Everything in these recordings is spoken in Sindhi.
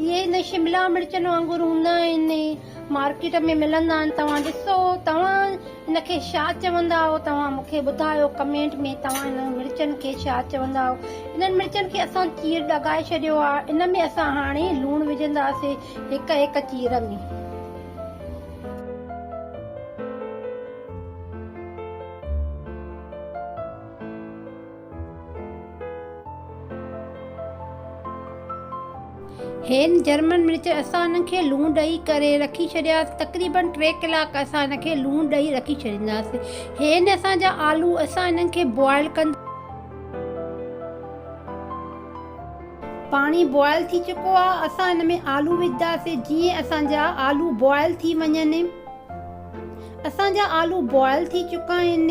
اهي نه شملا مرچن وانگر هوندا آهن مارڪيٽ ۾ ملندا آهن توهان ڏسو توهان ان کي ڇا چوندا آهيو توهان مون کي ٻڌايو ڪمينٽ ۾ توهان انهن مرچن کي ڇا چوندا آهيو انهن مرچن کي اسان چير ڏگائي ڇڏيو آهي ان ۾ اسان هاڻي لوڻ وجهنداسين هڪ هڪ چير ۾. هين جرمن مرچ اسان انهن کي لوڻ ڏئي ڪري رکي ڇڏياسين تقريبن ٽي ڪلاڪ اسان انهن کي لوڻ ڏئي رکي ڇڏينداسين هين اسان جا آلو اسان انهن کي بوائل ڪنداسين پاڻي بوائل ٿي چڪو آهي اسان ان ۾ آلو وجهنداسين جيئن اسان جا آلو بوائل ٿي وڃن اسان جا آلو بوائل ٿي چڪا آهن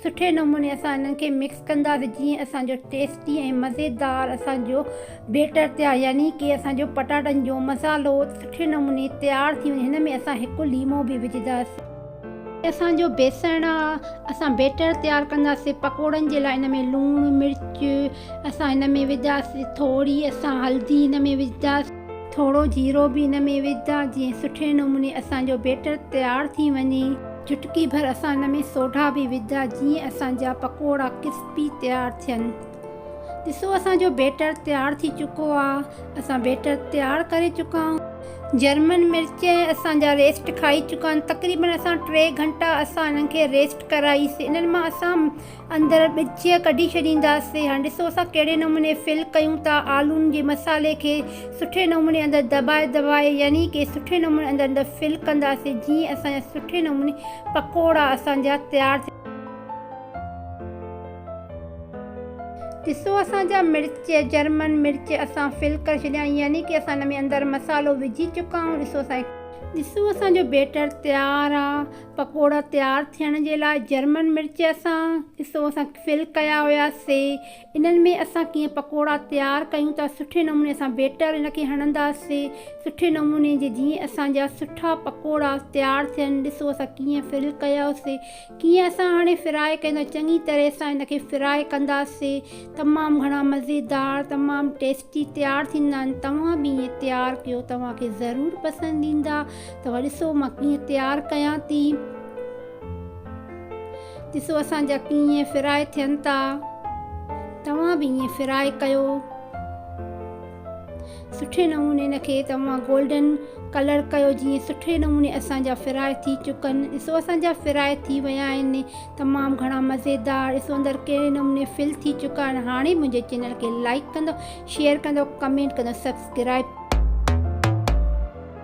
سٺي نموني اسان انهن کي مڪس ڪنداسين جيئن اسان جو ٽيسٽي ۽ مزيدار اسان جو بيٽر تيار يعني ڪي اسان جو پٽاٽن جو مصالحو سٺي نموني تيار ٿي وڃي هن ۾ اسان هڪ ليمو به وجهنداسين. هي اسان جو بيسڻ آ اسان بيٽر تيار ڪنداسين پڪوڙن جي لاء ان ۾ لوڻ مرچ اسان هن ۾ وجهنداسين ٿوري اسان هلدي هن ۾ وجهنداسين. ٿورو جيرو به ان ۾ وجهندا جيئن سٺي نموني اسان جو بيٽر تيار ٿي وڃي. چٽڪي ڀر اسان ان ۾ سوڍا به وجهندا جيئن اسان جا پڪوڙا ڪرسپي تيار ٿين. ڏسو اسان جو بيٽر تيار ٿي چڪو آ. اسان بيٽر تيار ڪري چڪا آهيون. جرمن مرچ ۽ اسان جا ريسٽ کائي چڪا آهن. تقريبن اسان ٽي گهنٽا اسان انهن کي ريسٽ ڪرائيس. انهن مان اسان. اندر ڳچيء ڪڍي ڇڏينداسين. هاڻي ڏسو اسان ڪهڙي نموني فل ڪيون ٿا. آلون جي مصالحي کي سٺي نموني اندر دٻائي دٻائي يعني ڪي سٺي نموني اندر اندر فل ڪنداسين جيئن اسان جا سٺي نموني پڪوڙا اسان جا تيار ٿي ڏسو اسان جا مرچ جرمن مرچ اسان فل ڪري ڇڏيا آهن يعني ڪي اسان ان ۾ اندر مصالحو وجهي چڪا آهيون ڏسو اسان جي. ڏسو اسان جو بيٽر تيار آ پڪوڙا تيار ٿيڻ جي لاء جرمن مرچ سان حصو اسان فل ڪيا هياسي انهن ۾ اسان ڪيئن پڪوڙا تيار ڪيون ٿا سٺي نموني اسان بيٽر ان کي هڻنداسي سٺي نموني جي جيئن اسان جا سٺا پڪوڙا تيار ٿين ڏسو اسان ڪيئن فل ڪياسي ڪيئن اسان هاڻي فرائي ڪيون ٿا چڱي طرح سان ان کي فرائي ڪنداسي تمام گهڻا مزيدار تمام ٽيسٽي تيار ٿيندا آهن توهان به ايئن تيار ڪيو توهان کي ضرور پسند ايندا توهان ڏسو مان ڪيئن تيار ڪيان ٿي. ڏسو اسان جا ڪيئن فرائي ٿين ٿا. توهان به ائين فرائي ڪيو. سٺي نموني ان کي توهان گولڊن ڪلر ڪيو جيئن سٺي نموني اسان جا فرائي ٿي چڪن. ڏسو اسان جا فرائي ٿي ويا آهن. تمام گهڻا مزيدار. ڏسو اندر ڪهڙي نموني فل ٿي چڪا آهن. هاڻي منهنجي چينل کي لائيڪ ڪندو شيئر ڪندو ڪمينٽ ڪندو سبسڪرائيب.